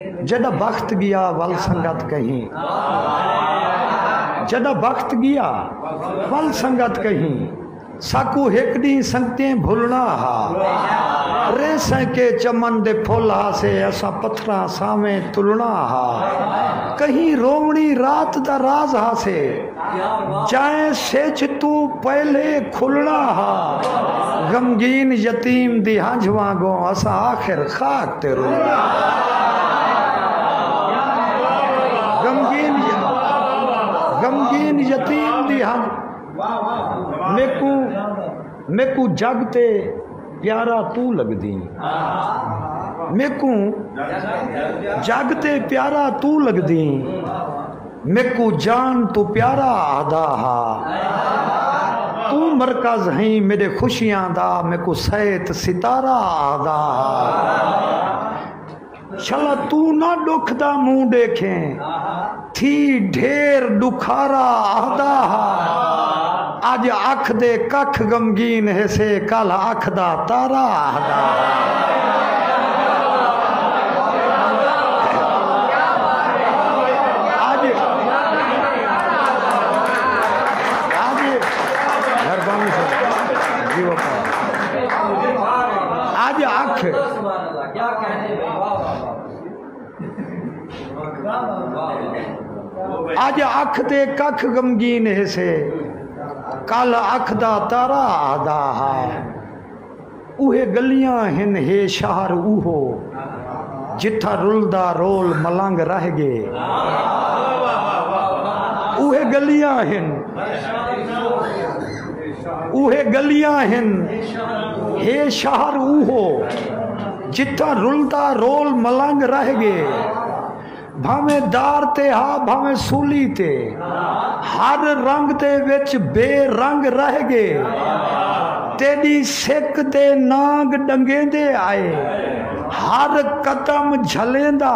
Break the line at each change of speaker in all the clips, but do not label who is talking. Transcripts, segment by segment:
جݙاں بخت ڳیا ول سنگت کہیں جݙاں بخت ڳیا ول سنگت کہیں ساکوں ہک ݙینہہ سنگتیں بھلݨا ہا ریسیں کے چمن دے پھل ہاسے اساں پتھراں سانویں تلݨا ہا کہیں رووݨی رات دا راز ہاسے جائیں سجھ توں پہلے کھلنا ہا غمگین یتیم دی ہنجھ وانگوں اساں آخر خاک تے رلنا غمگین یتیم دی ہنجھ میکو میکو جگ تے پیارا تو لگدی میکو جگ تے پیارا تو لگدی میکو جان توں پیارا آہدا ہا۔ توں مرکز ہئیں میڈے خوشیاں دا میکو سیت ستارہ آہدا ہا۔ شلا توں نہ ڈکھ دا منہ ڈیکھیں تھی ڈھیر ڈکھارا آہدا ہا۔ اڄ اکھ دے ککھ غمگین ہیسے کل اکھ دا تارا آہدا اج اکھ اج اکھ تے ککھ غمگین ہسے کل اکھ دا تارا آدا ہا اوہے گلیاں ہن ہے شہر اوہو جتھا رلدا رول ملنگ رہ گے اوہے گلیاں ہن اوہے گلیاں ہن ہے شہر اوہو جتھاں رلدا رول ملنگ رہ گے بھاویں دار تے ہا بھاویں سولی تے ہر رنگ دے وچ بے رنگ رہ گے تیڈی سک دے نانگ ڈنگیندے آئے ہر قدم جھلیندا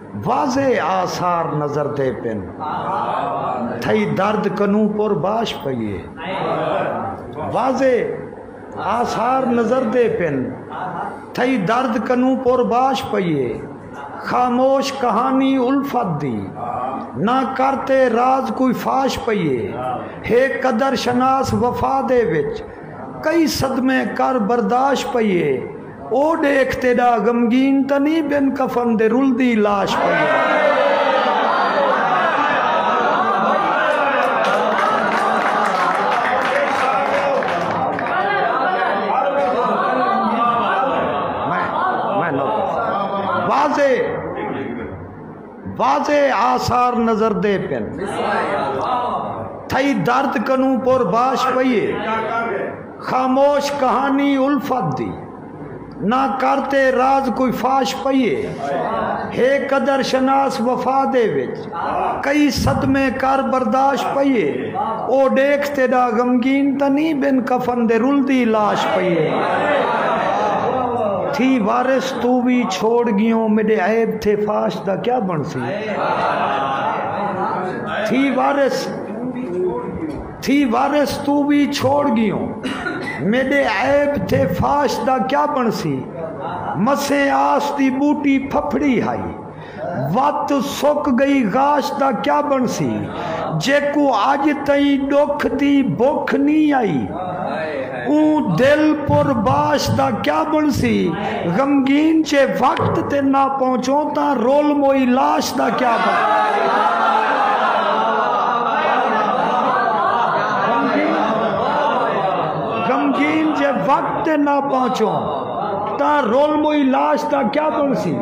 واضح آثار نظر دے پن تھئی درد کنو پر باش پئیے واضح آثار نظر دے پن تھئی درد کنو پر باش پئیے خاموش کہانی الفت دی نہ کرتے راز کوئی فاش پئیے ہے قدر شناس وفا دے وچ کئی صدمے کر برداشت پئیے او ڈیکھ تیڈا غمگین تاں نی بن کفن دے رلدی لاش پئی۔ واضح آثار نظر دے پن تھئی درد کنوں پر باش پئیے خاموش کہانی الفت دی نہ کرتے راز کوئی فاش پئیے ہے قدر شناس وفا دے وچ کئی صدمے کر برداشت پئیے او ڈیکھ تیڈا غمگین تا نہیں بن کفن دے رلدی لاش پئیے تھی وارث توں وی چھوڑ گیوں میڈے عیب تھے فاش دا کیا بنسی تھی وارث تھی وارث توں وی چھوڑ گیوں میڈے عیب تھے فاش دا کیا بنسی مسیں آس دی بوٹی پھپھڑی ہائی وت سک گئی غاش دا کیا بنسی جیکوں اج تئیں ڈکھ دی بکھ نی آئی اوں دل پر باش دا کیا بنسی غمگین جے وقت تے نہ پہنچوں تاں رول موئی لاش دا کیا بنسی۔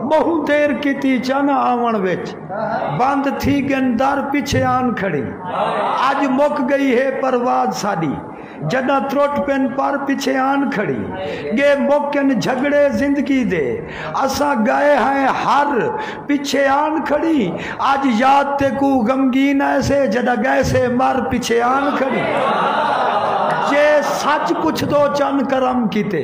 ٻہوں دیر کیتی چانہ آوݨ وچ بند تھی ڳن در پچھے آن کھڑی اڄ مک ڳئی ہے پرواز ساݙی جݙاں ترٹ پن پر پچھے آن کھڑی ڳے مک ڳن جھڳڑے زندگی دے اساں ڳائے ہئیں ہر پچھے آن کھڑی اڄ یاد تیکوں غمگین آئیسے جݙاں ڳئیسے مر پچھے آن کھڑی جے سچ پچھدو چن کرم کیتے۔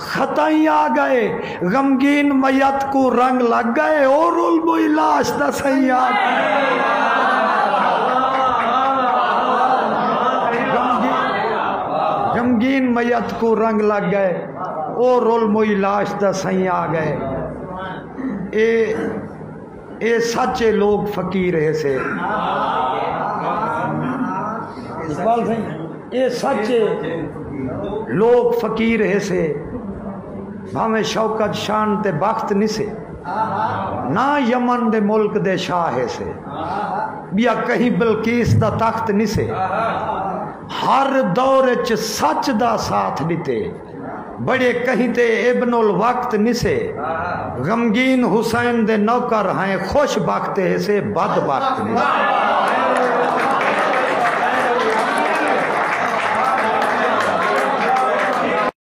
ختائیں آ گئے غمگین میت کوں رنگ لگ گئے او رول بوئی لاش دا سئیں غمگین میت کوں رنگ لگ گئے او رول موئی لاش دا سئیں آ گئے اے اے سچ اے لوگ فقیر اے سے اقبال سائیں اے سچ اے لوگ فقیر اے سے بھاویں شوکت شان تے بخت نہیں سے نہ یمن دے ملک دے شاہ اے سے بیا کہیں بلقیس دا تخت نہیں سے ہر دور اچ سچ دا ساتھ ڈتے بڑے کہیں تے ابن الوقت نسے۔ غمگین حسین دے نوکر ہائیں خوش بخت ہیسے بد بخت نسے۔